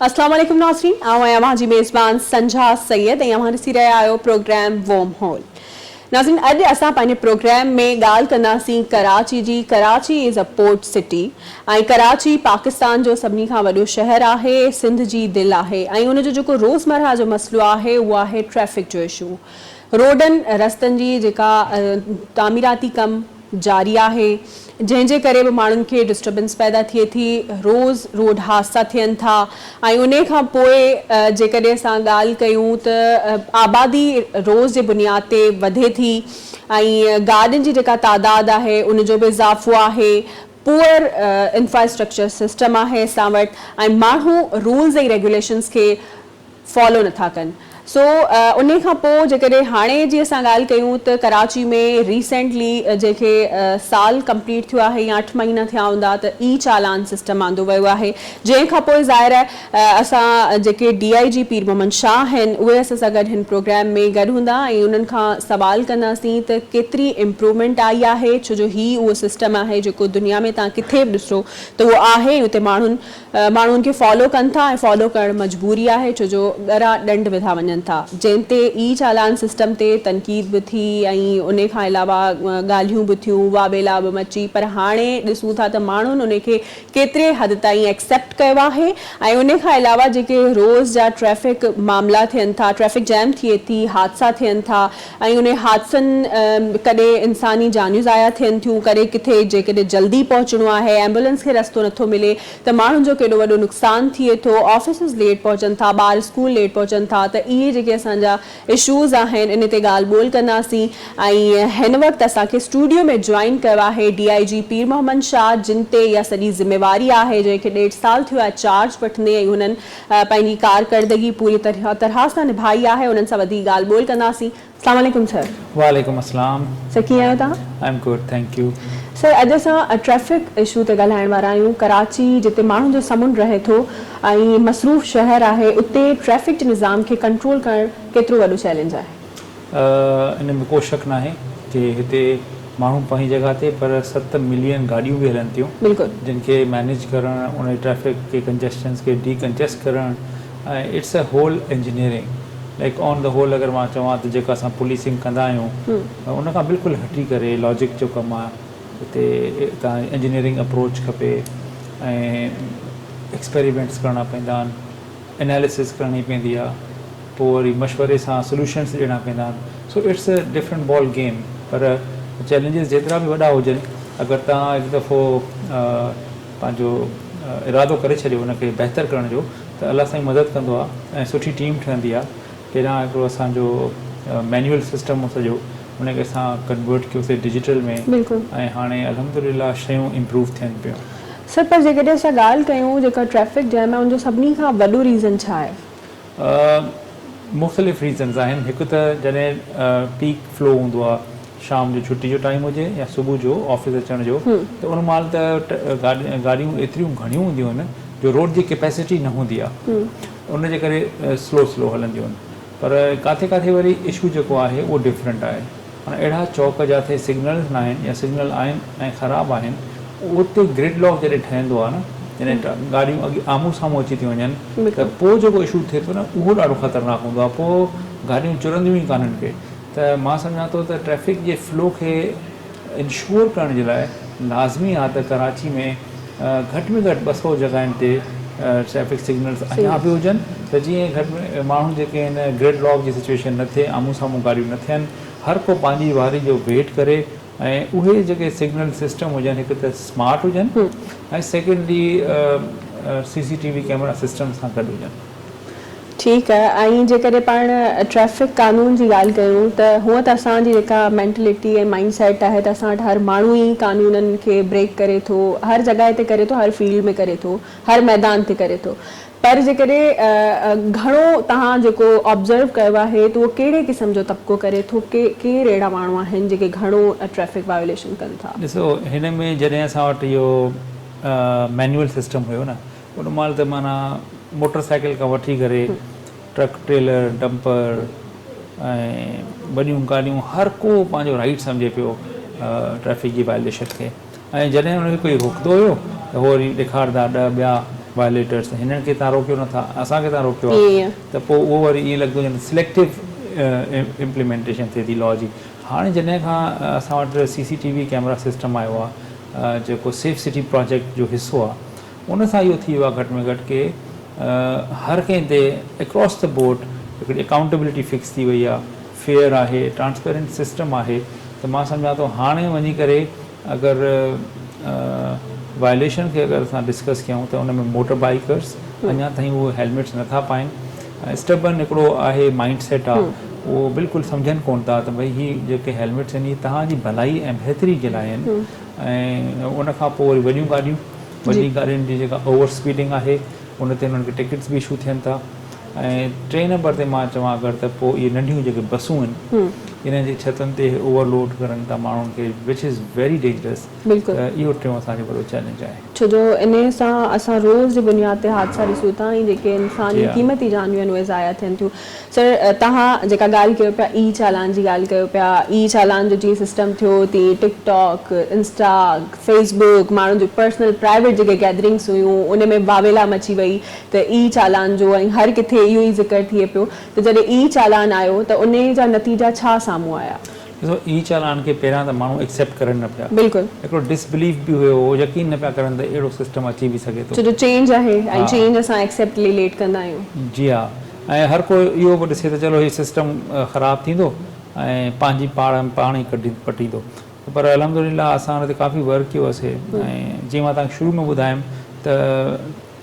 السلام عليڪم ناظرين آئون آهيان اوهان جي ميزبان سنجها سيد ۽ اوهان ڏسي رهيا آهيو پروگرام ووم هول ناظرين اڄ اسان پنهنجي پروگرام ۾ ڳالهه ڪنداسين ڪراچي جي Karachi is a port city ۽ Karachi Pakistan جو سڀني کان وڏو شهر آهي، سنڌ جي دل آهي ۽ ان جو جيڪو روزمرهه جو مسئلو آهي اهو آهي ٽريفڪ جو اشو، روڊن رستن جي جيڪا تعميراتي ڪم جاري آهي جنهن جي ڪري به ماڻهن کي ڊسٽربنس پيدا ٿئي ٿي، روز روڊ حادثا ٿين ٿا ۽ انهي کان پوء جيڪڏهن اسان ڳالهه ڪيون ته آبادي روز جي بنياد تي وڌي ٿي ۽ گاڏين جي جيڪا تعداد آهي ان جو به اضافو آهي، پوئر انفراسٽرڪچر سسٽم آهي اسان وٽ ۽ ماڻهو رولز ۽ ريگيوليشنز کي فالو نٿا ڪن سو انهي کان پوء جيڪڏهن هاڻي جي اسان ڳالهه ڪيون ته ڪراچي ۾ ريسينٽلي جنهن کي سال ڪمپليٽ ٿيو آهي يا اٺ مهينا ٿيا هوندا ته اي چالان سسٽم آندو ويو آهي جنهن کان پوء ظاهر آهي اسان جيڪي ڊي آء جي پير محمد شاهه آهن اهي اسان سان گڏ هن پروگرام ۾ گڏ هوندا ۽ انهن کان سوال ڪنداسين ته ڪيتري امپروومينٽ آئي آهي ڇو جو هي اهو سسٽم آهي جيڪو دنيا ۾ توهان ڪٿي به ڏسو ته اهو آهي ۽ اتي ماڻهن ماڻهو ان کي فالو ڪن ٿا ۽ فالو ڪرڻ مجبوري آهي ڇو جو ڳرا ڏنڊ وڌا وڃن ٿا جنهن تي اي چالان سسٽم تي تنقيد به ٿي ۽ ان کان علاوه ڳالهيون به ٿيون واويلا به مچي پر هاڻي ڏسون ٿا ته ماڻهن ان کي ڪيتري حد تائين ايڪسيپٽ ڪيو آهي ۽ ان کان علاوه جيڪي روز جا ٽريفڪ معاملا ٿين ٿا ٽريفڪ جيم ٿئي ٿي حادثا ٿين ٿا ۽ انهي حادثن ڪڏي انساني جانيون ضايع ٿين ٿيون ڪڏي ڪٿي جيڪڏهن جلدي پهچڻو آهي ايمبولنس کي رستو نٿو ملي ته ماڻهن جو ڪيڏو وڏو نقصان ٿئي ٿو آفيسز ليٽ پهچن ٿا ٻار اسڪول ليٽ پهچن ٿا ته اهي جيڪي اسان جا اشوز آهن ان تي ڳالهه ٻولهه ڪنداسين ۽ هن وقت اسان کي اسٽوڊيو ۾ جوائن ڪيو آهي ڊي آء جي پير محمد شاهه جن تي اها سڄي ذميواري آهي جنهن کي ڏيڍ سال ٿيو آهي چارج وٺندي ۽ هنن پنهنجي ڪارڪردگي پوري طرح سان نڀائي آهي انهن سان وڌيڪ ڳالهه ٻولهه ڪنداسين السلام عليڪم سر. وعليڪم السلام سر ڪيئن آهيو توهان. I am good thank you. Sir اڄ اسان ٽريفڪ اشو تي ڳالهائڻ وارا آهيون ڪراچي جتي ماڻهن جو سمنڊ رهي ٿو. ۽ مصروف شهر آهي اتي ٽريفڪ نظام کي ڪنٽرول ڪرڻ ڪيترو وڏو چئلينج آهي؟ ان ۾ ڪو شڪ ناهي جي هتي ماڻهو پنهنجي جڳهه تي پر ست ملين گاڏيون به هلن ٿيون بلڪل. جن کي مينيج ڪرڻ ان جي ٽريفڪ کي ڪنجسٽنس کي ڊي ڪنجسٽ ڪرڻ ۽ it's a whole engineering like on the whole اگر مان چوان ته جيڪا اسان پوليسنگ ڪندا آهيون ان کان بلڪل هٽي ڪري لاجڪ جو ڪم آهي. اتي توهان کي انجنيئرنگ اپروچ کپي ۽ ايڪسپيريمينٽس ڪرڻا پويندا آهن اناليسز ڪرڻي پويندي آهي پوء وري مشوري سان سلوشنس ڏيڻا پويندا آهن so it's a different ball game پر چئلينجز جيترا به وڏا هجن اگر توهان هڪ دفعو پنهنجو ارادو ڪري ڇڏيو ان کي بهتر ڪرڻ جو ته الله سائين مدد ڪندو آهي ۽ سٺي ٽيم ٺهندي آهي پهريان هڪڙو اسان جو مينيول سسٽم هو سڄو ان کي اسان ڪنورٽ ڪيوسي ڊجيٽل ۾ بلڪل. ۽ هاڻي الحمدلله شيون امپروو ٿين پيون. سر پر جيڪڏهن اسان ڳالهه ڪيون جيڪا ٽريفڪ جيم آهي ان جو سڀني کان وڏو ريزن ڇا آهي؟ مختلف ريزنز آهن هڪ ته جڏهن پيڪ فلو هوندو آهي شام جو ڇٽي جو ٽائيم هجي يا صبح جو آفيس اچڻ جو ته ان مهل ته گاڏيون ايتريون گهڻيون هونديون آهن جو روڊ جي ڪيپيسٽي نه هوندي آهي. ان جي ڪري سلو سلو هلنديون آهن پر ڪاٿي ڪاٿي وري اشو جيڪو آهي اهو ڊفرنٽ آهي معنيٰ اهڙا چوڪ جاٿي سگنلز ناهن يا سگنل آهن ۽ خراب آهن اتي گرڊ لاڪ جڏهن ٺهندو آهي نه جڏهن گاڏيون اڳي آمهون سامهون اچي ٿيون وڃن ته پوء جيڪو اشو ٿئي ٿو نه اهو ڏاڍو خطرناڪ هوندو آهي پوء گاڏيون چرنديون ئي ڪانهن ڪي ته مان سمجهان ٿو ته ٽريفڪ جي فلو کي انشور ڪرڻ جي لاء لازمي آهي ته ڪراچي ۾ گهٽ ۾ گهٽ ٻه سؤ جڳهين تي ٽريفڪ سگنلز اڃا به هجن ته جيئن گهٽ ۾ ماڻهو جيڪي آهن گرڊ لاڪ جي سچويشن نه ٿئي آمهون سامهون گاڏيون نه ٿين هر ڪو پنهنجي واري جو ويٽ ڪري ۽ اهي جيڪي سگنل سسٽم هجن هڪ ته سمارٽ هجن ۽ secondly C C T V camera system سان گڏ هجن. ٺيڪ آهي ۽ جيڪڏهن پاڻ ٽريفڪ قانون جي ڳالهه ڪيون ته هونء ته اسان جي جيڪا مينٽلٽي ۽ مائنڊ سيٽ آهي ته اسان وٽ هر ماڻهو ئي قانونن کي بريڪ ڪري ٿو هر جڳهه تي ڪري ٿو هر فيلڊ ۾ ڪري ٿو هر ميدان تي ڪري ٿو پر جيڪڏهن گهڻو توهان جيڪو آبزرو ڪيو آهي ته اهو ڪهڙي قسم جو طبقو ڪري ٿو ڪير اهڙا ماڻهو آهن جيڪي گهڻو ٽريفڪ وايوليشن ڪن ٿا. ڏسو هن ۾ جڏهن اسان وٽ اهو مينوئل سسٽم هيو نه. ان مهل ته معنيٰ موٽر سائيڪل کان وٺي ڪري ٽرڪ ٽريلر ڊمپر ۽ وڏيون گاڏيون هر ڪو پنهنجو رائيٽ سمجهي پيو ٽريفڪ جي وائليشن کي ۽ جڏهن ان کي ڪوئي روڪندو هيو ته هو وري ڏيکارندا ڏهه ٻيا وائليٽرس هنن کي تان روڪيو نه ٿا اسان کي تان روڪيو آهي ته پوء اهو وري ائين لڳندو ڄڻ سليڪٽو امپليمينٽيشن ٿئي ٿي لا جي هاڻي جڏهن کان اسان وٽ C C T V camera system آيو آهي جيڪو سيف سٽي پراجيڪٽ جو حصو آهي ان سان اهو ٿي ويو آهي گهٽ ۾ گهٽ ڪي هر ڪنهن تي اڪراس دي بورڊ هڪڙي اڪائونٽيبلٽي فڪس ٿي وئي آهي، فيئر آهي، ٽرانسپيرنٽ سسٽم آهي ته مان سمجهان ٿو هاڻي وڃي ڪري اگر وائليشن کي اگر اسان ڊسڪس ڪيون ته ان ۾ موٽر بائيڪرز اڃا تائين اهي هيلميٽس نه ٿا پائين اسٽبن هڪڙو آهي مائنڊ سيٽ آهي اهو بلڪل سمجهن ڪونه ٿا ته ڀئي هي جيڪي هيلميٽس آهن هي توهان جي ڀلائي ۽ بهتري جي لاء آهن ۽ ان کان پوء وري وڏيون گاڏيون وڏين گاڏين جي جيڪا اوور اسپيڊنگ آهي ان تي انهن کي ٽڪيٽس به اشو ٿين ٿا ۽ ٽئين نمبر تي مان چوان اگر ته پوء اهي ننڍيون جيڪي بسون آهن انهن جي ڇتن تي اهي اوور لوڊ ڪرن ٿا ماڻهن کي وچ از ويري ڊينجرس ته اهو ٽيون اسان جو وڏو چئلينج آهي. ڇو جو انهي سان اسان روز جي بنياد تي حادثا ڏسون ٿا ۽ جيڪي انساني قيمتي جانيون آهن اهي ضايع ٿين ٿيون سر توهان جيڪا ڳالهه ڪيو پيا اي چالان جي ڳالهه ڪيو پيا اي چالان جو جيئن سسٽم ٿيو تيئن TikTok Insta Facebook ماڻهن جون پرسنل پرائيويٽ جيڪي گيدرنگس هيون ان ۾ واويلا مچي وئي ته اي چالان جو ۽ هر ڪٿي اهو ئي ذڪر ٿئي پيو ته جڏهن اي چالان آيو ته انهي جا نتيجا ڇا سامهون آيا. ڏسو اي چالان کي پهريان ته ماڻهو ايڪسيپٽ ڪرن نه پيا. بلڪل. هڪڙو ڊس بليف به هيو هو يقين نه پيا ڪرن ته اهڙو سسٽم اچي به سگهي ٿو. ڇو جو چينج آهي ۽ چينج اسان ايڪسيپٽ لي ليٽ ڪندا آهيون. جي ها ۽ هر ڪو اهو به ڏسي ته چلو هي سسٽم خراب ٿيندو ۽ پنهنجي پاڙ پاڻ ئي پٽيندو پر الحمدلله اسان ان تي ڪافي ورڪ ڪيو هو سي ۽ جيئن مان توهان کي شروع ۾ ٻڌايم ته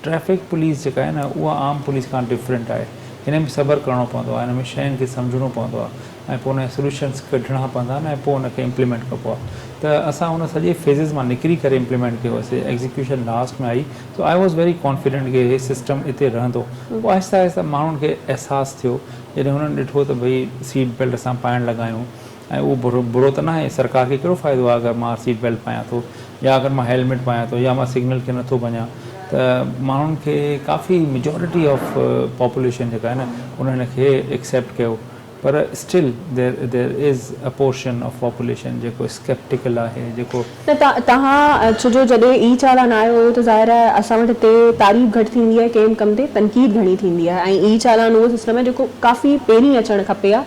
ٽريفڪ پوليس جيڪا آهي نه اها عام پوليس کان ڊفرينٽ آهي هن ۾ صبر ڪرڻو پوندو آهي هن ۾ شين کي سمجهڻو پوندو آهي ۽ پوء ان جا سوليوشنس ڪڍڻا پوندا آهن ۽ پوء ان کي امپليمينٽ ڪبو آهي ته اسان ان سڄي فيزز مان نڪري ڪري امپليمينٽ ڪيو سي ايگزيڪيوشن لاسٽ ۾ آئي so I was very confident ڪي هي سسٽم اتي رهندو پوء آهستي آهستي ماڻهن کي احساس ٿيو جڏهن هنن ڏٺو ته ڀئي سيٽ بيلٽ اسان پائڻ لڳا آهيون ۽ اهو برو برو ته ناهي سرڪار کي ڪهڙو فائدو آهي اگر مان سيٽ بيلٽ پايان ٿو يا اگر مان هيلميٽ پايان ٿو يا مان سگنل کي نٿو ڀڃان ته ماڻهن کي ڪافي ميجارٽي آف پاپوليشن جيڪا آهي نه ان هن کي ايڪسيپٽ ڪيو پر still there there is a portion of population جيڪو اسڪيپٽيڪل آهي جيڪو نه ته توهان ڇو جو جڏهن ئي چالاڻ آيو هو ته ظاهر آهي اسان وٽ هتي تعريف گهٽ ٿيندي آهي ڪنهن به ڪم تي تنقيد گهڻي ٿيندي آهي ۽ ئي چالاڻ اهو سسٽم آهي جيڪو ڪافي پهرين اچڻ کپي ها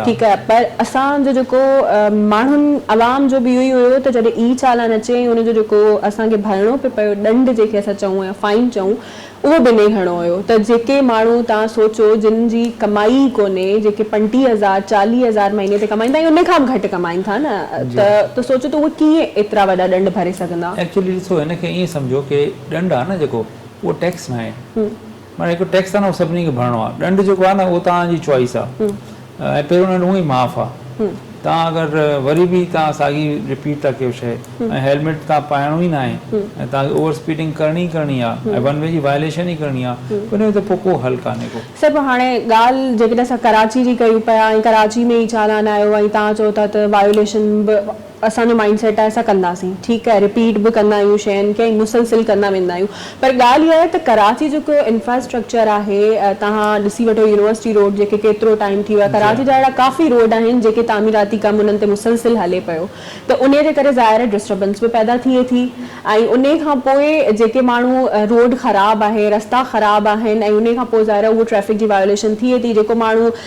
ٺيڪ آهي پر اسان جو جيڪو ماڻهن عوام جو به اهو ئي هيو ته جڏهن ئي چالاڻ اچي ۽ ان جو جيڪو اسان کي ڀرڻو پئي پيو ڏنڊ جنهن کي اسان چئون يا فائن چئون اهو به نئين هڻو هيو ته جيڪي ماڻهو توهان سوچو جن جي ڪمائي ئي ڪونهي جيڪي پنٽيهه هزار چاليهه هزار مهيني تي ڪمائيندا ۽ ان کان به گهٽ ڪمائين ٿا نه ته ته سوچو ته اهي ڪيئن ايترا وڏا ڏنڊ ڀري سگهندا. ايڪچوئلي ڏسو هن کي ائين سمجهو ڪي ڏنڊ آهي نه جيڪو اهو ٽيڪس ناهي معنيٰ هڪ ٽيڪس آهي نه اهو سڀني کي ڀرڻو آهي ڏنڊ جيڪو آهي نه اهو توهان جي چوائس آهي. ۽ پهريون ڏنڊ هونئن ئي معاف آ تان اگر وري به تان ساڳي رپيٽ ٿا ڪيو شئي ۽ هيلميٽ تان پائڻو ئي ناهي ۽ تان کي اوور اسپيڊنگ ڪرڻي ئي ڪرڻي آ ۽ ون وي جي وائليشن ئي ڪرڻي آ ته ان جو ته پوء ڪو حل ڪانهي ڪو. صاحب هاڻي ڳالهه جيڪڏهن اسان ڪراچي جي ڪيون پيا ۽ ڪراچي ۾ ئي چالان آيو ۽ تان چئو ٿا ته وائليشن به اسان جو مائنڊ سيٽ آهي اسان ڪنداسين ٺيڪ آهي رپيٽ به ڪندا آهيون شين کي ۽ مسلسل ڪندا ويندا آهيون پر ڳالهه اها آهي ته ڪراچي جيڪو انفراسٽرڪچر آهي توهان ڏسي وٺو يونيورسٽي روڊ جيڪي ڪيترو ٽائيم ٿي ويو آهي ڪراچي جا اهڙا ڪافي روڊ آهن جيڪي تعميراتي ڪم انهن تي مسلسل هلي پيو ته انهي جي ڪري ظاهر آهي ڊسٽربنس به پيدا ٿئي ٿي ۽ انهي کان پوء جيڪي ماڻهو روڊ خراب آهي رستا خراب آهن ۽ انهي کان پوء ظاهر آهي اهو ٽريفڪ جي وايوليشن ٿئي ٿي جيڪو ماڻهو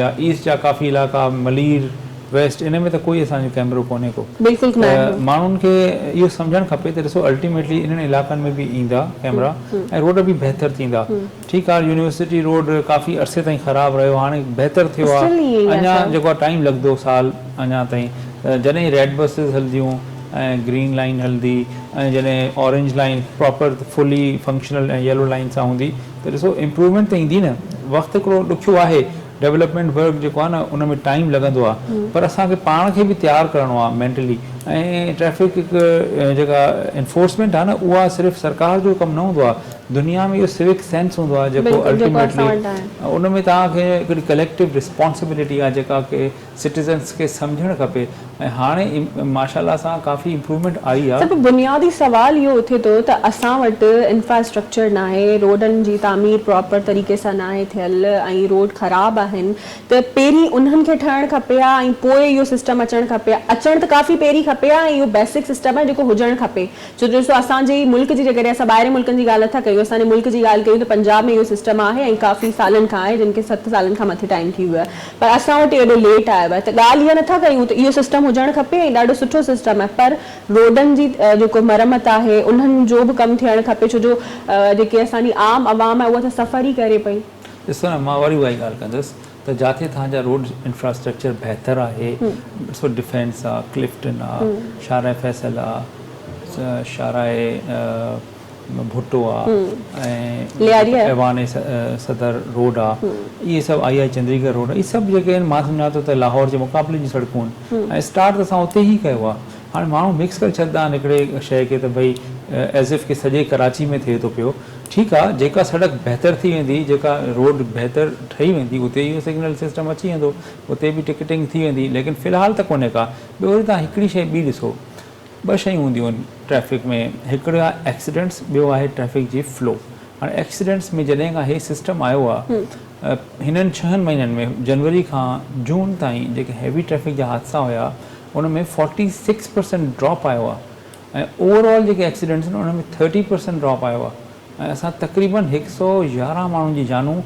يا ايسٽ جا ڪافي علائقا ملير، ويسٽ ان ۾ ته ڪوئي اسان جو ڪيمرو ڪونهي ڪو بلڪل ته ناهي. ماڻهن کي اهو سمجهڻ کپي ته ڏسو الٽيميٽلي انهن علائقن ۾ به ايندا ڪيمرا ۽ روڊ به بهتر ٿيندا ٺيڪ آهي يونيورسٽي روڊ ڪافي عرصي تائين خراب رهيو هاڻي بهتر ٿيو آهي اسٽل ائين ئي آهي اڃا سر. جيڪو آهي ٽائيم لڳندو سال اڃا تائين جڏهن ريڊ بسز هلنديون ۽ گرين لائين هلندي ۽ جڏهن Orange Line proper fully functional ۽ Yellow Line سان هوندي ته ڏسو امپروومينٽ ته ايندي نه وقت هڪڙو ڏکيو آهي ڊولپمينٽ ورڪ جيڪو آهي نه ان ۾ ٽائيم لڳندو آهي پر اسان کي پاڻ کي به تيار ڪرڻو آهي مينٽلي ۽ ٽريفڪ جيڪا انفورسمينٽ آهي نه اها صرف سرڪار جو ڪم نه هوندو آهي دنيا ۾ اهو سوڪ سينس هوندو آهي جيڪو الٽيميٽلي ان ۾ توهان کي هڪڙي ڪليڪٽو رسپانسبلٽي آهي جيڪا ڪي سٽيزنس کي سمجهڻ کپي ۽ هاڻي ماشا الله سان ڪافي امپرومينٽ آئي آ. سڀ بنيادي سوال اهو اٿي ٿو ته اسان وٽ انفراسٽرڪچر ناهي روڊن جي تعمير پراپر طريقي سان ناهي ٿيل ۽ روڊ خراب آهن ته پهرين انهن کي ٺهڻ کپي ها ۽ پوء اهو سسٽم اچڻ کپي ها اچڻ ته ڪافي پهرين کپي ها ۽ اهو بيسڪ سسٽم آهي جيڪو هجڻ کپي ڇو جو ڏسو اسان جي ملڪ جي جيڪڏهن اسان ٻاهرين ملڪن جي ڳالهه نٿا ڪيون اسان جي ملڪ جي ڳالهه ڪيون ته پنجاب ۾ اهو سسٽم آهي ۽ ڪافي سالن کان آهي جن کي ست سالن کان مٿي ٽائيم ٿي ويو آهي پر اسان وٽ اهو ايڏو ليٽ آيو آهي ته ڳالهه اها نٿا ڪيون ته اهو سسٽم هجڻ کپي ۽ ڏاڍو سٺو سسٽم آهي پر روڊن جي جيڪو مرمت آهي انهن جو به ڪم ٿيڻ کپي ڇو جو جيڪي اسان جي عام عوام آهي اها ته سفر ئي ڪري پئي. ڏسو نه مان وري اهائي ڳالهه ڪندس ته جاٿي توهان جا روڊ انفراسٽرڪچر بهتر آهي ڏسو ڊفينس آهي ڪلفٽن آهي شاهراهه فيصل آهي شاهراهه ڀٽو آ ۽ ايوان صدر روڊ آ اهي سڀ آئي آئي چندريڪر روڊ اهي سڀ جيڪي آهن مان سمجهان ٿو ته لاهور جي مقابلي جون سڙڪون آهن ۽ اسٽارٽ ته اسان اتي ئي ڪيو آ هاڻي ماڻهو مڪس ڪري ڇڏندا آهن هڪڙي شئي کي ته ڀئي ايز اف ڪي سڄي ڪراچي ۾ ٿئي ٿو پيو ٺيڪ آ جيڪا سڙڪ بهتر ٿي ويندي جيڪا روڊ بهتر ٺهي ويندي اتي اهو سگنل سسٽم اچي ويندو اتي به ٽڪيٽنگ ٿي ويندي ليڪن في الحال ته ڪونهي ڪا ٻيو وري توهان هڪڙي شئي ٻي ڏسو ٻه شيون هونديون آهن ٽريفڪ ۾ هڪڙو آهي ايڪسيڊنٽس ٻيو آهي ٽريفڪ جي فلو هاڻي ايڪسيڊنٽس ۾ جڏهن کان هي سسٽم آيو آهي هنن ڇهن مهينن ۾ جنوري کان جون تائين جيڪي هيوي ٽريفڪ جا حادثا هيا ان ۾ فورٽي سڪس پرسنٽ ڊراپ آيو آهي ۽ اوور آل جيڪي ايڪسيڊنٽس آهن ان ۾ ٿرٽي پرسنٽ ڊراپ آيو آهي ۽ اسان تقريبن هڪ سؤ يارهن ماڻهن جي جانون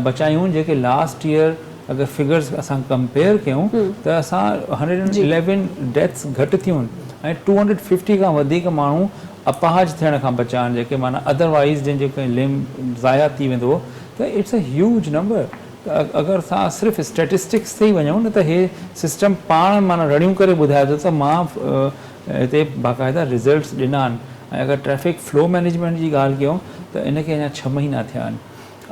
بچايون جيڪي لاسٽ ييئر اگر فگرز اسان ڪمپيئر ڪيون ته اسان هنڊريڊ اينڊ اليون ڊيٿس گهٽ ٿيون ۽ ٽو هنڊريڊ ففٽي کان وڌيڪ ماڻهو اپاهج ٿيڻ کان بچا آهن جيڪي معنيٰ ادر وائيز جن جو ڪنهن لمب ضايع ٿي ويندو هو ته اٽس اي هيوج نمبر ته اگر اسان صرف اسٽيٽسٽڪس تي ئي وڃون نه ته هي سسٽم پاڻ معنيٰ رڙيون ڪري ٻڌائي ٿو ته مان هتي باقاعده رزلٽس ڏنا آهن ۽ اگر ٽريفڪ فلو مينيجمينٽ جي ڳالهه ڪيون ته ان کي اڃا ڇهه مهينا ٿيا آهن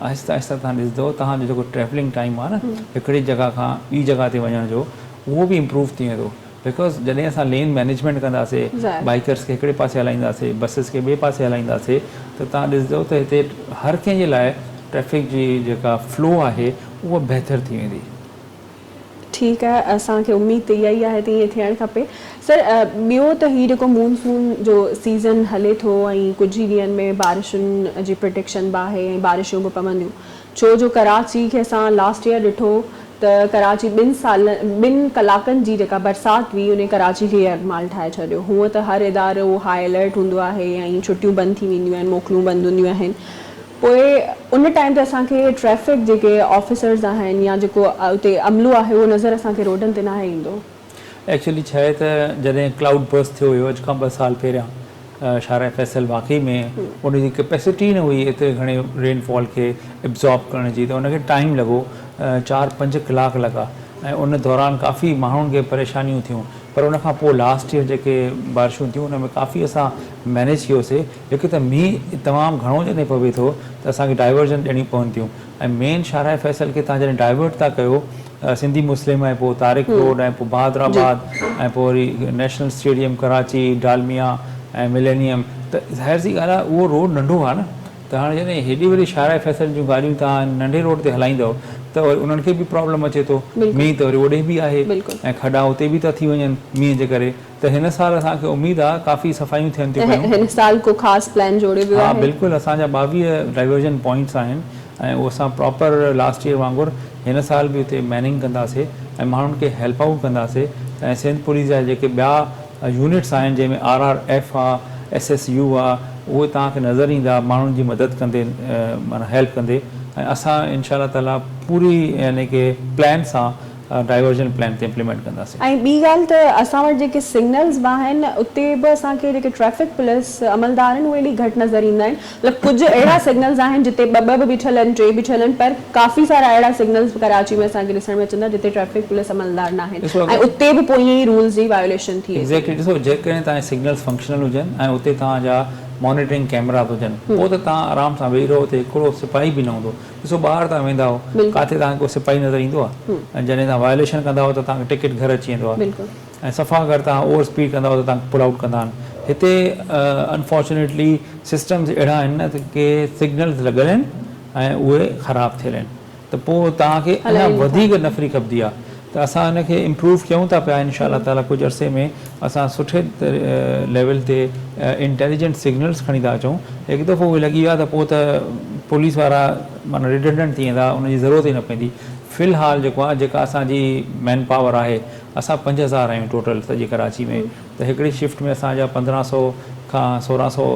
آهستي آهستي تهان ڏسندو تهان جو جيڪو ٽريولنگ ٽائيم آهي نه هڪڙي جڳهه کان ٻي جڳهه تي وڃڻ جو اهو به امپروو ٿي ويندو بڪاز جڏهن اسان لين مينيجمينٽ ڪنداسي بائيڪرس کي هڪڙي پاسي هلائينداسي بسز کي ٻئي پاسي هلائينداسي ته تهان ڏسندو ته هتي هر ڪنهن جي لاء ٽريفڪ جي جيڪا فلو آهي اها بهتر ٿي ويندي. ٺيڪ آهي اسان کي اميد ته اها ئي آهي ته ائين ٿيڻ کپي سر ٻيو ته هي جيڪو مون سون جو سيزن هلي ٿو ۽ ڪجهه ئي ڏينهن ۾ بارشن جي پرڊڪشن به آهي ۽ بارشون به پونديون ڇو جو ڪراچي کي اسان لاسٽ ايئر ڏٺو ته ڪراچي ٻن سالن ٻن ڪلاڪن جي جيڪا برسات هئي انهي ڪراچي کي يرغمال ٺاهي ڇڏيو هونء ته هر ادارو هاء الرٽ هوندو آهي ۽ ڇٽيون بند ٿي وينديون آهن موڪلون بند هونديون آهن پوء ان ٽائيم تي اسان کي ٽريفڪ جيڪي آفيسرز آهن يا جيڪو اتي عملو آهي اهو نظر اسان کي روڊن تي ناهي ايندو. ايڪچوئلي ڇا آهي ته جڏهن ڪلائوڊ برسٽ ٿيو هيو اڄ کان ٻه سال پهريان شاهراهه فيصل واقعي ۾ ان جي ڪيپيسٽي ئي نه هئي ايتري گهڻي رين فال کي ابزارب ڪرڻ جي ته ان کي ٽائيم لڳو چار پنج ڪلاڪ لڳا ۽ ان دوران ڪافي ماڻهن کي پريشانيون ٿيون پر ان کان پوء لاسٽ ييئر جيڪي بارشون ٿيون ان ۾ ڪافي اسان مينيج ڪيوسي. هڪ ته مينهن تمام گهڻو جڏهن پوي ٿو ته اسان کي ڊائيورزن ڏيڻيون پون ٿيون ۽ مين شاهراهه فيصل کي تهان جڏهن ڊائيورٽ ٿا ڪيو سنڌي مسلم ۽ پوء طارق روڊ ۽ پوء بهادر آباد ۽ پوء وري national stadium Karachi Dalmia ۽ millennium ته ظاهر سي ڳالهه آهي اهو روڊ ننڍو آهي نه ته هاڻي جڏهن هيڏي وڏي شاهراهه فيصل جون گاڏيون تهان ننڍي روڊ تي هلائيندؤ ته وري انهن کي به پرابلم اچي ٿو مينهن ته وري اوڏي به آهي ۽ کڏا اتي به ٿا ٿي وڃن مينهن جي ڪري ته هن سال اسان کي اميد آ ڪافي صفايون ٿين ٿيون پيون. هن سال ڪو خاص پلان جوڙيو ويو ها آهي؟ بلڪل اسان جا ٻاويهه ڊائيورزن پوائنٽس آهن ۽ اهو اسان پراپر لاسٽ ييئر وانگر هن سال به اتي ميننگ ڪنداسي ۽ ماڻهن کي هيلپ آئوٽ ڪنداسي ۽ سنڌ پوليس جا جيڪي ٻيا يونٽس آهن جنهن ۾ آر آر ايف آ ايس ايس يو آ اهي توهان کي نظر ايندا ماڻهن جي مدد ڪندي معنيٰ هيلپ ڪندي ۽ اسان انشاء الله تعاليٰ پوري يعني ڪي پلان سان ڊائيورجن پلان تي امپليمينٽ ڪنداسين. ۽ ٻي ڳالهه ته اسان وٽ جيڪي سگنلز به آهن اتي به اسان کي جيڪي ٽريفڪ پوليس عملدار آهن اهي ايڏي گهٽ نظر ايندا آهن مطلب ڪجهه اهڙا سگنلز آهن جتي ٻه ٻه به بيٺل آهن ٽي بيٺل آهن پر ڪافي سارا اهڙا سگنلز به ڪراچي ۾ اسان کي ڏسڻ ۾ اچن ٿا جتي ٽريفڪ پوليس عملدار نه آهن ۽ اتي به پوء ائين ئي رولز جي وايوليشن ٿئي ٿي. ايگزيڪٽلي ڏسو جيڪڏهن توهان جا سگنلز فنڪشنل هجن ۽ اتي توهان جا مانيٽرنگ ڪيمراز هجن پوء ته توهان آرام سان ويهي رهو اتي هڪڙو سپاهي به نه هوندو. ڏسو ٻاهر توهان ويندا آهو ڪاٿي توهان کي ڪو سپاهي نظر ايندو آهي ۽ جڏهن توهان وائليشن ڪندا آهو ته توهان کي ٽڪيٽ گهر اچي ويندو آهي ۽ صفا اگر توهان اوور اسپيڊ ڪندا آهو ته توهان کي پل آئوٽ ڪندا آهن هتي انفارچونيٽلي سسٽمز اهڙا آهن نه ته ڪي سگنلز لڳل آهن ۽ اهي خراب ٿيل آهن ته پوء توهان کي اڃا وڌيڪ نفري کپندي آهي ته اسان ان کي امپروو ڪيون ٿا پيا انشاء الله تعالي ڪجهه عرصي ۾ اسان سٺي ليول تي انٽيليجنٽ سگنلز کڻي ٿا اچون هڪ دفعو اهي لڳي ويا ته پوء ته پوليس وارا معنيٰ ريڊنڊنٽ ٿي ويندا ان جي ضرورت ئي نه پوندي في الحال جيڪو آهي جيڪا اسان جي مين پاور آهي اسان پنج هزار آهيون ٽوٽل سڄي ڪراچي ۾ ته هڪڙي شفٽ ۾ اسان جا پندرهن سئو کان سورهن سئو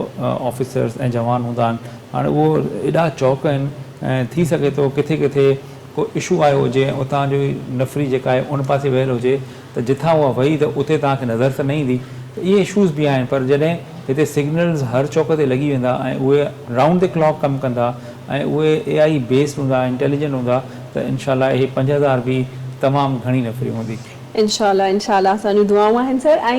آفيسرز ۽ جوان هوندا آهن هاڻي اهو ايڏا چوڪ آهن ۽ ٿي سگهي ٿو ڪٿي ڪٿي ڪو اشو آيو هجي ۽ اتان جي نفري جيڪا آهي ان پاسي ويل هجي ته جتان اها وئي ته اتي توهان کي نظر ته نه ايندي ته اهي اشوز به آهن پر جڏهن هتي سگنلز هر چوڪ تي لڳي ويندا ۽ اهي رائونڊ دي ڪلاڪ ڪم ڪندا ۽ اهي اي آئي بيسڊ هوندا انٽيليجنٽ هوندا ته انشاء الله اهي پنج هزار به تمام گهڻي نفري هوندي. انشاء الله انشاء الله اسان جون دعائون آهن سر ۽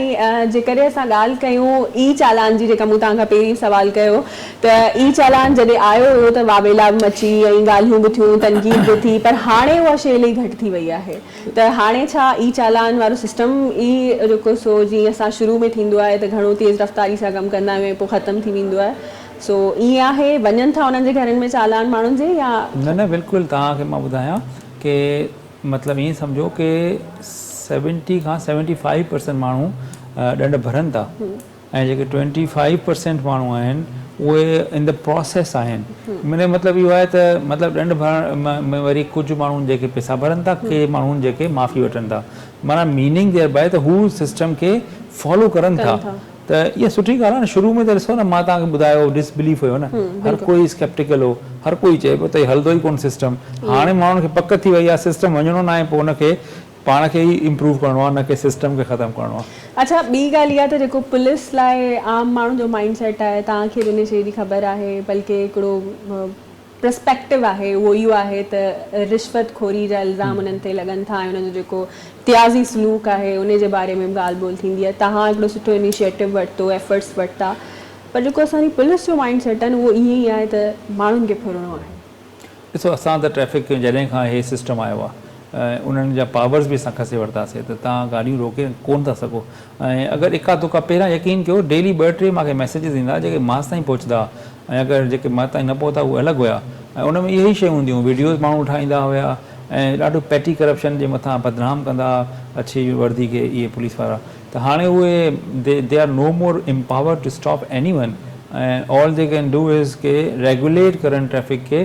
جيڪڏهن اسان ڳالهه ڪيون اي چالان جي جيڪا مون توهان کان پهرين سوال ڪيو ته اي چالان جڏهن آيو هيو ته واويلا به مچي ۽ ڳالهيون به ٿيون تنقيد به ٿي پر هاڻي اها شي الائي گهٽ ٿي وئي آهي ته هاڻي ڇا اي چالان وارو سسٽم ئي جيڪو سو جيئن اسان شروع ۾ ٿيندو آهي ته گهڻو تيز رفتاري سان ڪم ڪندا آهيون ۽ پوء ختم ٿي ويندو آهي سو ائين آهي وڃن ٿا انهن جي گهرن ۾ چالان ماڻهن جي يا نه نه بلڪل توهان کي مان ٻڌايان ڪي مطلب ائين سمجهو ڪي سيونٽي کان سيونٽي فائيو پرسينٽ ماڻهو ڏنڊ ڀرن ٿا ۽ جيڪي ٽوئنٽي فائيو پرسينٽ ماڻهو آهن اهي ان دي پروسيس آهن ان جو مطلب اهو آهي ته مطلب ڏنڊ ڀرڻ ۾ وري ڪجهه ماڻهو جيڪي پيسا ڀرن ٿا ڪي ماڻهو جيڪي معافي وٺن ٿا معنيٰ ميننگ ديئر باء ته هو سسٽم کي فالو ڪرن ٿا ته اها سٺي ڳالهه آهي نه شروع ۾ ته ڏسو نه مان توهان کي ٻڌايو ڊس بليف هيو نه هر ڪو ئي سڪيپٽيڪل هو هر ڪو ئي چئي پيو ته هي هلندو ئي ڪونه سسٽم هاڻي ماڻهن کي پڪ ٿي وئي آهي سسٽم وڃڻو نه آهي پوء ان کي پاڻ کي ئي امپروو ڪرڻو آهي نه ڪي سسٽم کي ختم ڪرڻو آهي. اڇا ٻي ڳالهه اها ته جيڪو پوليس لاء عام ماڻهن جو مائنڊ سيٽ آهي توهان کي به ان شيء جي خبر آهي بلڪه هڪڙو پرسپيڪٽو آهي اهو اهو آهي ته رشوت خوري جا الزام انهن تي لڳن ٿا ۽ انهن جو جيڪو تيازي سلوڪ آهي ان جي باري ۾ به ڳالهه ٻولهه ٿيندي آهي توهان هڪڙو سٺو انيشيٽو ورتو ايفرٽس ورتا پر جيڪو اسان جي پوليس جو مائنڊ سيٽ آهي نه اهو ائين ئي آهي ته ماڻهن کي ڦرڻو آهي. ڏسو اسان ته ٽريفڪ جڏهن کان هي سسٽم آيو آهي انهن جا پاورز به اسان کسي ورتاسي ته تهان گاڏيون روڪي ڪون ٿا سگهو ۽ اگر اڪا دڪا پهريان يقين ڪيو ڊيلي ٻه ٽي ماکي ميسيجز ايندا جيڪي ماس تائين پهچدا ۽ اگر جيڪي ماس تائين نه پهتا اهي الڳ هيا ۽ ان ۾ اهي ئي شيون هونديون ويڊيوز ماڻهو ٺاهيندا هيا ۽ ڏاڍو پيٽي ڪرپشن جي مٿان بدنام ڪندا اڇي وردي کي اهي پوليس وارا ته هاڻي اهي the the are no more empowered to stop anyone ۽ all the can do is ڪي ريگوليٽ ڪرن ٽريفڪ کي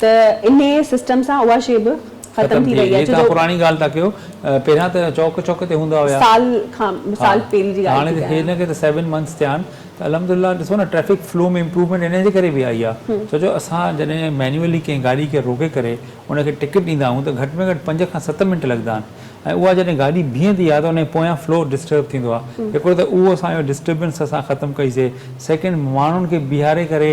ته انهي سسٽم سان اها شي به ختم ٿي وئي آهي ڇو جو. هي توهان پراڻي ڳالهه ٿا ڪيو پهريان ته چوڪ چوڪ تي هوندا هيا. سال کان سال پهرين جي ڳالهه ٿي ڪيان. هاڻي هن کي ته سيون منٿس ٿيا آهن ته الحمد لله ڏسو نه ٽريفڪ فلو ۾ امپروومينٽ انهي جي ڪري به آئي آهي ڇو جو اسان جڏهن مينيولي ڪنهن گاڏي کي روڪي ڪري ان کي ٽڪيٽ ڏيندا آهيون ته گهٽ ۾ گهٽ پنج کان ست منٽ لڳندا آهن ۽ اها جڏهن گاڏي بيهندي آهي ته انهي پويان فلو ڊسٽرب ٿيندو آهي هڪڙو ته اهو اسان جو ڊسٽربنس اسان ختم ڪئي سي سيڪنڊ ماڻهن کي بيهاري ڪري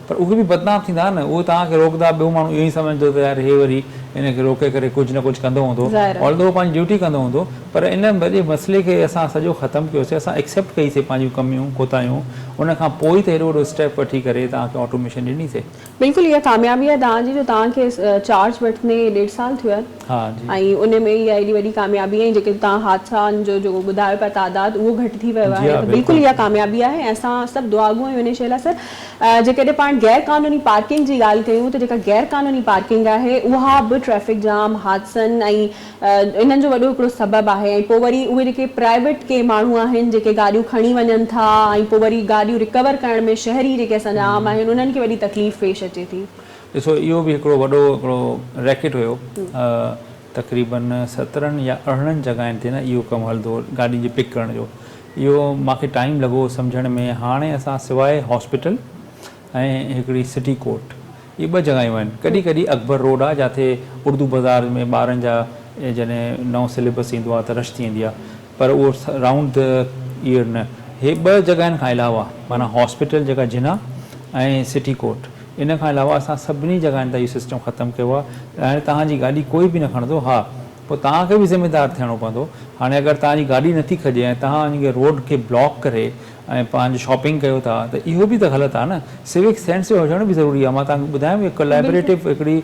پر اهي به بدنام ٿيندا نه اهي توهان کي روڪندا ٻيو ماڻهو اهو ئي سمجهندو ته يار هي وري هن کي روڪي ڪري ڪجهه نه ڪجهه ڪندو هوندو ظاهر آهي. Although هو پنهنجي ڊيوٽي ڪندو هوندو پر ان وڏي مسئلي کي اسان سڄو ختم ڪيوسي اسان ايڪسيپٽ ڪئي سي پنهنجون ڪميون ڪوتاهيون ان کان پوء ئي ته هيڏو وڏو اسٽيپ وٺي ڪري توهان کي آٽوميشن ڏني سي. بلڪل اها ڪاميابي آهي توهان جي جو توهان کي چارج وٺندي ڏيڍ سال ٿيو آهي. ۽ ان ۾ اها ايڏي وڏي ڪاميابي ۽ جيڪي توهان حادثائن جو جيڪو ٻڌايو پيا تعداد اهو گهٽ ٿي ويو آهي ته بلڪل اها ڪاميابي آهي ۽ اسان سڀ دعاگو آهيون انهي شيء لاء سر جيڪڏهن پاڻ غير قانوني پارڪنگ جي ڳالهه ڪيون ته جيڪا غير قانوني پارڪنگ آهي اها به ٽريفڪ جام حادثن ۽ انهن جو وڏو هڪڙو سبب آهي ۽ پوء وري اهي جيڪي پرائيويٽ ڪي ماڻهو آهن جيڪي گاڏيون کڻي وڃن ٿا ۽ پوء وري گاڏيون رڪور ڪرڻ ۾ شهري جيڪي اسان جا عام آهن انهن کي وڏي تڪليف پيش اچي ٿي. ڏسو اهو به هڪڙو وڏو هڪڙو ريڪٽ هيو تقريبن سترهن يا ارڙهن جڳهين تي نه اهو ڪم هلندو هو گاڏين جي پڪ ڪرڻ جو اهو مان کي ٽائيم لڳو سمجهڻ ۾ هاڻي اسان سواء هاسپيٽل ۽ هڪڙي سٽي ڪورٽ اهي ٻه جڳهيون آهن ڪڏهن ڪڏهن اڪبر روڊ آهي جاٿي اردو بزار ۾ ٻارن جا جڏهن نئون سليبس ايندو آهي ته رش ٿي ويندي آهي پر اهو رائونڊ دي ايئر نه هي ٻه جڳهين کان علاوه معنيٰ هاسپيٽل جيڪا جناح ۽ سٽي ڪورٽ ان کان علاوه اسان سڀني جڳهين تان اهو سسٽم ختم ڪيو آهي ته هاڻي توهان جي گاڏي ڪوئي به نه کڻندو ها پوء توهان کي به ذميدار ٿيڻو پوندو هاڻي اگر توهان جي گاڏي نٿي کڄي ۽ توهان وڃي ڪري روڊ کي بلاڪ ڪري ۽ پنهنجي شاپنگ ڪيو ٿا ته اهو به ته غلط آهي نه سوڪ سينس جو هجڻ به ضروري آهي مان توهان کي ٻڌايم هڪ ڪولابريٽو هڪڙي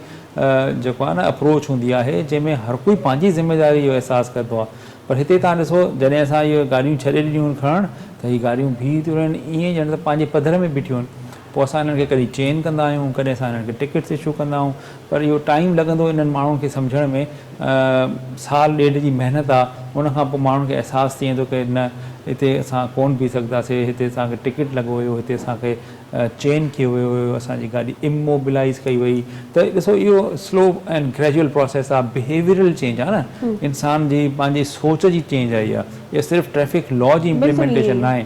جيڪو آهي نه اپروچ هوندي آهي جنهن ۾ هر ڪوئي پنهنجي ذميداري جو احساس ڪندو آهي پر هتي توهان ڏسو جڏهن اسان اهي گاڏيون ڇڏي ڏنيون آهن کڻڻ ته هي گاڏيون بيهي ٿيون رهن ائين ڄڻ ته پنهنجي پڌر ۾ بيٺيون آهن پوء اسان انهن کي ڪڏهن چين ڪندا آهيون ڪڏهن اسان انهن کي ٽڪيٽس اشو ڪندا آهيون پر اهو ٽائيم لڳندو انهن ماڻهن کي سمجهڻ ۾ سال ڏيڍ جي محنت آ ان کان پوء ماڻهن کي احساس ٿي ويندو ڪي نه اتي اسان ڪون بيهي سگهداسي هتي اسان کي ٽڪيٽ لڳو ويو هتي اسان کي چين ڪيو ويو هيو اسان جي گاڏي اموبلائيز ڪئي وئي ته ڏسو اهو سلو اينڊ گريجوئل پروسيس آ بهيويئرل چينج آ نه انسان جي پنهنجي سوچ جي چينج آئي آ اهو صرف ٽريفڪ لا جي امپليمينٽيشن ناهي.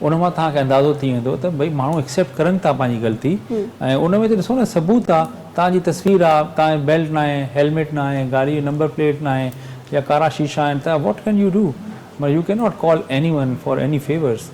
ان مان توهان کي اندازو ٿي ويندو ته ڀئي ماڻهو اڪسيپٽ ڪرن ٿا پنهنجي غلطي ۽ ان ۾ ته ڏسو نه ثبوت آ توهان جي تصوير آ توهان بيلٽ ناهي هيلميٽ ناهي گاڏي جي نمبر پليٽ ناهي يا ڪارا شيشا آهن ته واٽ ڪين يو ڊو مطلب you cannot call anyone for any favours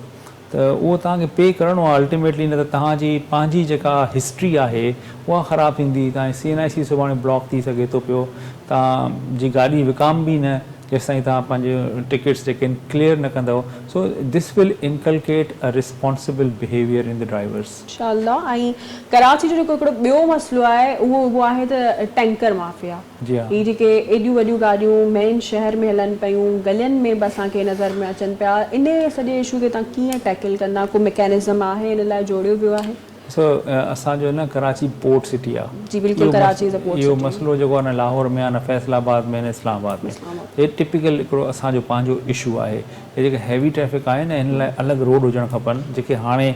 ته اهو توهان کي پي ڪرڻو آ الٽيميٽلي نه ته توهان جي پنهنجي جيڪا هسٽري آهي اها خراب ٿيندي توهان جي سي اين آء سي سڀاڻي بلاڪ ٿي سگهي ٿو پيو توهان جي گاڏي وڪامبي نه. جيستائين توهان پنهنجي ٽڪيٽس جيڪي آهن ڪليئر نه ڪندؤ so this will inculcate a responsible behaviour in the drivers. انشاء الله ۽ ڪراچي جو جيڪو هڪڙو ٻيو مسئلو آهي اهو اهو آهي ته ٽينڪر مافيا هي جيڪي ايڏيون وڏيون گاڏيون مين شهر ۾ هلن پيون گلين ۾ به اسان کي نظر ۾ اچن پيا انهي سڄي اشو کي تهان ڪيئن ٽيڪل ڪندا ڪو مڪينزم آهي ان لاء جوڙيو ويو آهي. ڏسو اسان جو نه ڪراچي پورٽ سٽي آ جي بلڪل Karachi is a port city اهو مسئلو جيڪو آ نه لاهور ۾ آ نه فيصل آباد ۾ نه اسلام آباد ۾ هي ٽپيڪل هڪڙو اسان جو پنهنجو اشو آهي هي جيڪي هيوي ٽريفڪ آهي نه هن لاء الڳ روڊ هجڻ کپن جيڪي هاڻي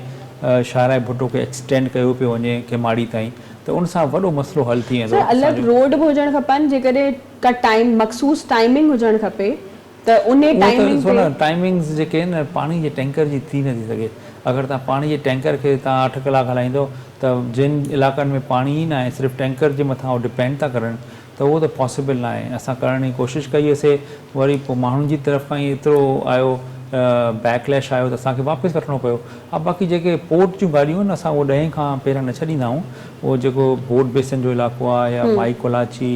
شاهراهه ڀٽو کي ايڪسٽينڊ ڪيو پيو وڃي کيماڙي تائين ته ان سان وڏو مسئلو حل ٿي ويندو اسان جو. سر الڳ روڊ به هجڻ کپن جيڪڏهن ٽائيم مخصوص ٽائيمنگ هجڻ کپي. ته انهي اهو ته ٽائمنگ ڏسو تي. نه ٽائمنگز جيڪي آهن نه پاڻي جي ٽينڪر جي ٿي نٿي سگهي اگر توهان پاڻي جي ٽينڪر کي توهان اٺ ڪلاڪ هلائيندو ته جن علاقن ۾ پاڻي ئي ناهي صرف ٽينڪر جي مٿان هو ڊپينڊ ٿا ڪرن ته اهو ته پاسيبل ناهي اسان ڪرڻ جي ڪوشش ڪئي هيسي وري پوء ماڻهن جي طرف کان ئي ايترو آيو بيڪ ليش آيو ته اسان کي واپس وٺڻو پيو ها باقي جيڪي پورٽ جون ڳاڏيون آهن اسان اهي ڏهين کان پهريان نه ڇڏيندا آهيون اهو جيڪو بوٽ بيسن جو علاقو آهي يا مائي ڪولاچي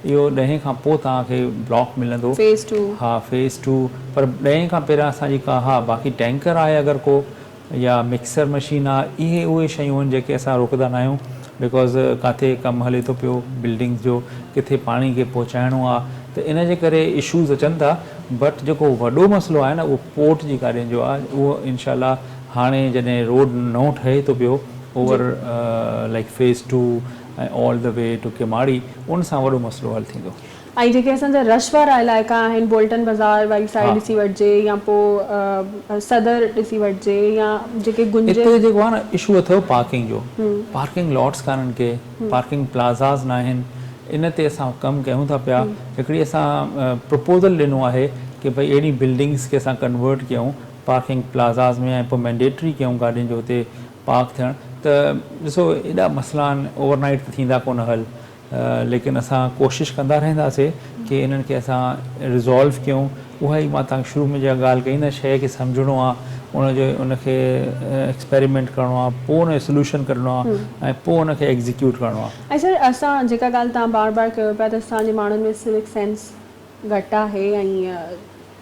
اهو ڏهين کان پوء توهان کي بلاڪ ملندو. Phase two. ها فيز ٽو پر ڏهين کان پهريان اسان جي ڪا ها باقي ٽينڪر آهي اگر ڪو يا مڪسر مشين آ اهي اهي شيون آهن جيڪي اسان روڪدا نه آهيون بيڪاز ڪاٿي ڪم هلي ٿو پيو بلڊنگس جو ڪٿي پاڻي کي پهچائڻو آ ته ان جي ڪري اشوز اچن ٿا بٽ جيڪو وڏو مسئلو آهي نه اهو پورٽ جي گاڏين جو آ اهو انشاء الله هاڻي جڏهن روڊ نئون ٺهي ٿو پيو جي. Over like phase two ۽ all the way to Kiamari ان سان وڏو مسئلو حل ٿيندو. ۽ جيڪي اسان جا رش وارا علائقا آهن بولٽن بزار واري سائيڊ ڏسي وٺجي يا پو صدر ڏسي وٺجي يا جيڪي گنجي. اتي جيڪو آهي نه اشو اٿو پارڪنگ جو پارڪنگ لاٽس ڪانهن ڪي پارڪنگ پلازاز ناهن ان تي اسان ڪم ڪيون ٿا پيا هڪڙي اسان پروپوزل ڏنو آهي ڪي ڀئي اهڙي بلڊنگس کي اسان ڪنورٽ ڪيون پارڪنگ پلازاز ۾ ۽ پو مينڊيٽري ڪيون گاڏين جو اتي پاڪ ٿيڻ ته ڏسو ايڏا مسئلا آهن اوور نائيٽ ته ٿيندا ڪونه حل ليڪن اسان ڪوشش ڪندا رهنداسي ڪي انهن کي اسان ريزالو ڪيون اها ئي مان توهان کي شروع ۾ جا ڳالهه ڪئي نه شئي کي سمجهڻو آهي ان جو ان کي ايڪسپريمينٽ ڪرڻو آهي پوء ان جو سلوشن ڪڍڻو آهي ۽ پوء ان کي ايڪزيڪيوٽ ڪرڻو آهي. ۽ سر اسان جيڪا ڳالهه توهان بار بار ڪيو پيا ته اسان جي ماڻهن ۾ سوڪ سينس. گهٽ آهي ۽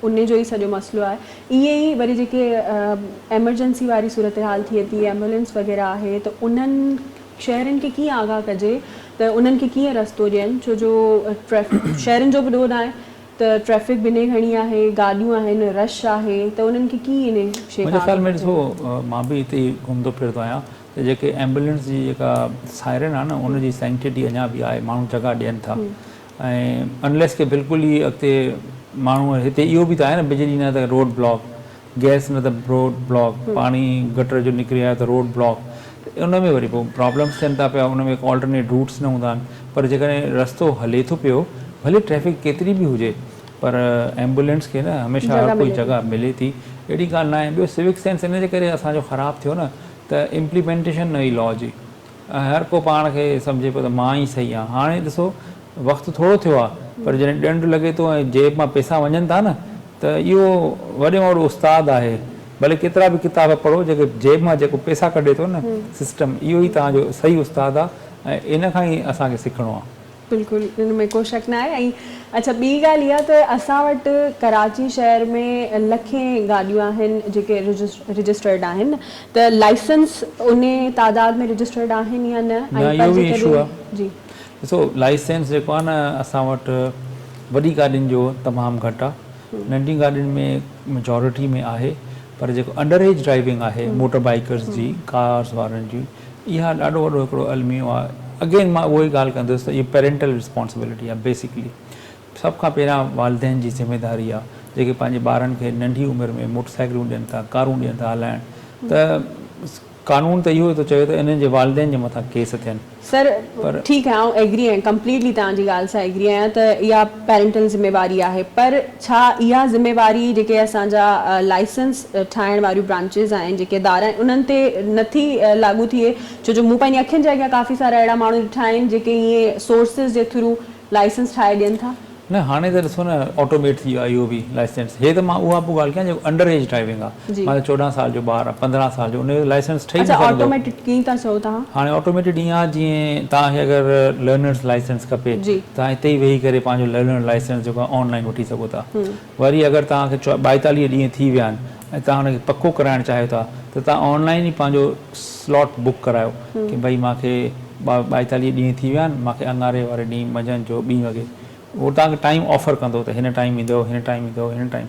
ان جو ئي سڄو مسئلو آهي ائين ئي وري جيڪي ايمرجنسي واري صورتحال ٿئي ٿي ايمبولينس وغيره آهي ته انهن شهرين کي ڪيئن آگاهه ڪجي ته انهن کي ڪيئن رستو ڏين ڇو جو شهرين جو به ڏوهه ناهي ته ٽريفڪ به انهي گهڻي آهي گاڏيون آهن رش آهي ته انهن کي ڪيئن انهي شي کان آگاهه ڪجي. منهنجي خيال ۾ ڏسو مان به هتي ئي گهمندو ڦرندو آهيان ته جيڪي ايمبولينس جي جيڪا سائرن آهي نه ان جي سينڪٽي اڃا به آهي ماڻهو جڳهه ڏين ٿا ۽ انليس ڪي بلڪل ئي اڳتي ماڻهو هتي اهو به ته آهي نه بجلي نه ته روڊ بلاڪ گئس نه ته روڊ بلاڪ پاڻي گٽر جو نڪري آيو ته روڊ بلاڪ ته ان ۾ وري پوء پرابلمس ٿين ٿا پيا ان ۾ ڪو آلٽرنيٽ روٽس نه هوندا آهن پر جيڪڏهن رستو هلي ٿو پيو ڀلي ٽريفڪ ڪيتري به هجي پر ايمبولينس کي نه هميشه هر ڪوئي جڳهه ملي ٿي اهڙي ڳالهه نه آهي ٻيو سوڪ سينس ان جي ڪري اسان جو خراب ٿيو نه ته امپليمينٽيشن نه هئي لا جي هر ڪو پاڻ کي سمجهي پيو ته مان ئي صحيح آهيان. هاڻي ڏسو وقت ٿورو ٿيو آهي پر جڏهن ڏنڊ لڳي ٿو ۽ جيب مان پئسا وڃن ٿا نه ته اهو وڏي مان وڏو استاد آهي ڀلي ڪيترا به ڪتاب پڙهو جيڪي جيب مان جيڪو پئسا ڪڍي ٿو نه سسٽم اهو ئي توهان جو صحيح استاد آهي ۽ ان کان ئي اسان کي سکڻو آهي. بلڪل ان ۾ ڪو شڪ ناهي ۽ اڇا ٻي ڳالهه اها ته اسان وٽ ڪراچي شهر ۾ لکين گاڏيون آهن جيڪي رجسٽرڊ آهن ته لائسنس انهي تعداد ۾ رجسٽرڊ آهن يا نه نه ۽ اهو پر به ايشو جيڪڏهن آهي جي. ڏسو لائسنس جيڪو آهي نه اسان وٽ وڏي گاڏين جو تمام گهٽ آهي ننڍين گاڏين ۾ مجارٽي ۾ آهي پر جيڪو انڊر ايج ڊرائيونگ آهي موٽر بائيڪرز جي ڪارز وارن جي اها ڏاڍو وڏو هڪڙو الميو آهي اگين مان اهو ئي ڳالهه ڪندس ته اهي پيرينٽل رسپانسبلٽي آهي بيسڪلي سڀ کان پهريان والدين جي ذميداري آهي جيڪي پنهنجي ٻارن کي ننڍي عمر ۾ موٽر سائيڪلون ڏين ٿا ڪارون ڏين ٿا هلائڻ ته قانون ته اهو ئي ٿو چوي ته انهن جي والدين جي مٿان ڪيس ٿين سر ٺيڪ آهي آئون ايگري آهيان ڪمپليٽلي توهان جي ڳالهه سان ايگري آهيان ته اها پيرينٽل ذميواري آهي پر ڇا اها ذميواري جيڪي اسان جا لائسنس ٺاهڻ واريون برانچز آهن، جيڪي ادارا آهن انهن تي نه ٿي لاڳو ٿئي ڇو جو مون پنهنجي اکين جي اڳيان ڪافي سارا اهڙا ماڻهو ڏٺا آهن جيڪي ائين سورسز جي ٿرو لائسنس ٺاهي ڏين ٿا. نه هاڻي ته ڏسو نه آٽوميٽ ٿي ويو آهي اهو به لائسنس هي ته مان اها پيو ڳالهه ڪيان جيڪو انڊر ايج ڊرائيونگ آهي جي. مانجو چوڏهن سال جو ٻار پندرهن سال جو ان جو لائسنس ٺهي نه اڇا سگهندو. آٽوميٽيڊ ڪيئن ٿا چئو توهان. هاڻي آٽوميٽيڊ ائين آ جيئن توهان کي اگر لرنرس لائسنس کپي جي. توهان اتي ئي ويهي ڪري پنهنجو لرنر لائسنس جيڪو آ آن لائين وٺي سگهو ٿا. هم. وري اگر توهان کي ٻائيتاليهه ڏينهن ٿي ويا آهن ۽ توهان ان کي پڪو ڪرائڻ چاهيو ٿا ته توهان آن لائين ئي پنهنجو سلاٽ بڪ ڪرايو هم. ڪي ڀئي مان کي ٻائيتاليهه ڏينهن ٿي ويا آهن مان کي اڱاري واري ڏينهن منجهند جو ٻي وڳي هو توهان کي ٽائيم آفر ڪندو ته هن ٽائيم ايندؤ هن ٽائيم ايندؤ هن ٽائيم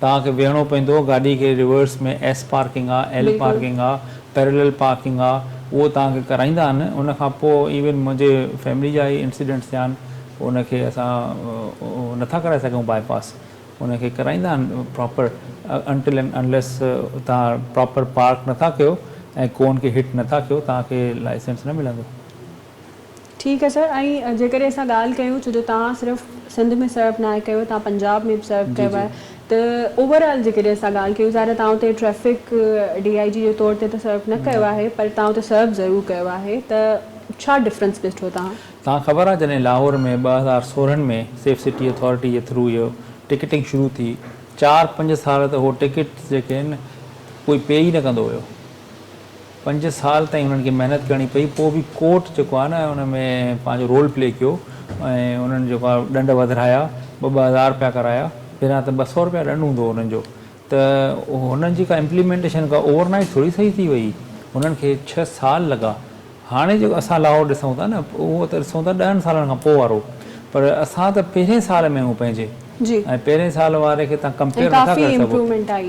توهان کي بيهڻو پوندو، گاڏي کي ريورس ۾ ايس پارڪنگ آ، ايل پارڪنگ آ، پيرلل پارڪنگ آ، اهو توهان کي ڪرائيندا آهن، ان کان پوء ايون منهنجي فيملي جا ئي انسيڊنٽس ٿيا آهن، ان کي اسان نٿا ڪرائي سگهون باء پاس، ان کي ڪرائيندا آهن پراپر انٽل اينڊ انليس توهان پراپر پارڪ نٿا ڪيو ۽ ڪون کي هٽ نٿا ڪيو توهان کي لائسنس نه ملندو. ٺيڪ آهي سر ۽ جيڪڏهن اسان ڳالهه ڪيون ڇو جو توهان صرف سنڌ ۾ سرف ناهي ڪيو توهان پنجاب ۾ به سرف ڪيو آهي ته اوور آل جيڪڏهن اسان ڳالهه ڪيون ظاهر آهي توهان اتي ٽريفڪ ڊي آئي جي جي طور تي ته سرف نه ڪيو آهي پر توهان اتي سرف ضرور ڪيو آهي ته ڇا ڊفرنس ڏٺو توهان؟ توهان خبر آهي جڏهن لاهور ۾ ٻه هزار سورهن ۾ سيف سٽي اٿارٽي جي ٿرو اهو ٽڪيٽنگ شروع ٿي چار پنج سال ته اهو ٽڪيٽس جيڪي آهن ڪوئي پي ئي نه ڪندو هيو پنج سال تائين انهن کي محنت ڪرڻي پئي پوء به ڪورٽ جيڪو آهي نه ان ۾ پنهنجو رول پلي ڪيو ۽ انهن جيڪو آهي ڏنڊ وڌرايا ٻه ٻه هزار رپيا ڪرايا پهريان ته ٻه سؤ رپيا ڏنڊ هوندو هو انهن جو ته انهن جي ڪا امپليمينٽيشن ڪا اوور نائيٽ ٿوري صحيح ٿي وئي انهن کي ڇهه سال لڳا هاڻي جيڪو اسان لاهور ڏسون ٿا نه اهو ته ڏسون ٿا ڏهن سالن کان پوء وارو پر اسان ته پهرين سال ۾ آهيون پنهنجي جي. ۽ پهرين سال واري کي تهان ڪمپيئر نٿا ڪري سگهو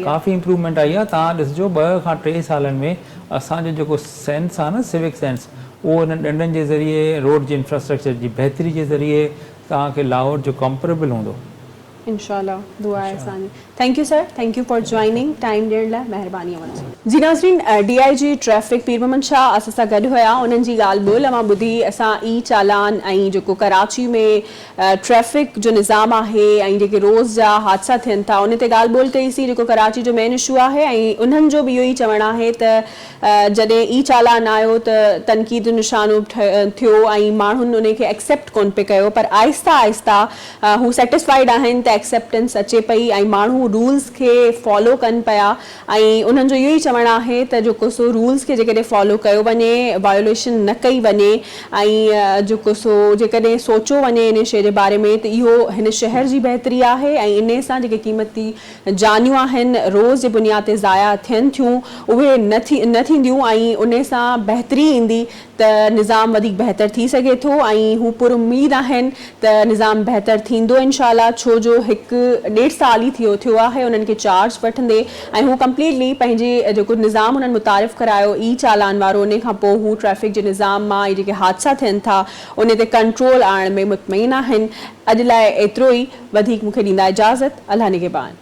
ڪافي امپرومينٽ آئي آهي تهان ڏسجو ٻه کان ٽي سالن ۾ اسان جو جيڪو سينس آهي نه سوڪ سينس اهو انهن ڏنڊن جي ذريعي روڊ جي انفراسٽرڪچر جي بهتري جي ذريعي تهان کي لاهور جو ڪمپريبل هوندو. انشاء الله دعا آهي اسان جي. Thank you sir thank you for joining time ڏيڻ لاء مهرباني اوهان جي. جي ناظرين D I G traffic Pir Muhammad Shah اسان سان گڏ هيا انهن جي ڳالهه ٻولهه اوهان ٻڌي اسان اي چالان ۽ جيڪو ڪراچي ۾ ٽريفڪ جو نظام آهي ۽ جيڪي روز جا حادثا ٿين ٿا انهي تي ڳالهه ٻولهه ڪئي سين جيڪو ڪراچي جو مين اشو آهي ۽ انهن جو به اهو ئي چوڻ آهي ته جڏهن اي چالان آيو ته تنقيد جو نشانو ٿيو ۽ ماڻهن انهي کي ايڪسيپٽ ڪونه پئي ڪيو پر آهستي آهستي هو سيٽسفائيڊ آهن ته ايڪسيپٽنس اچي پئي ۽ ماڻهو رولز کي فالو ڪن پيا ۽ انهن جو اهو ئي چوڻ آهي ته جو ڪو سو رولز کي جيڪڏهن فالو ڪيو وڃي، وايوليشن نه ڪئي وڃي ۽ جو ڪو سو جيڪڏهن سوچيو وڃي انهي شيء جي باري ۾ ته اهو هن شهر جي بهتري آهي ۽ انهي سان جيڪي قيمتي جانيون آهن روز جي بنياد تي ضايع ٿين ٿيون اهي نه ٿينديون ۽ انهي سان بهتري ايندي ته نظام وڌيڪ بهتر ٿي سگهي ٿو ۽ هو پر اميد آهن ته نظام بهتر ٿيندو انشاء الله ڇو جو هڪ ڏيڍ سال ئي ٿيو ٿيو آهي انهن کي چارج وٺندي ۽ هو ڪمپليٽلي پنهنجي جيڪو نظام انهن متعارف ڪرايو اي چالان وارو انهي کان پوء هو ٽريفڪ جي نظام مان ۽ جيڪي حادثا ٿين ٿا انهي تي ڪنٽرول آڻڻ ۾ مطمئن آهن اڄ لاء ايترو ئي وڌيڪ مون کي ڏيندا اجازت الله نگهبان.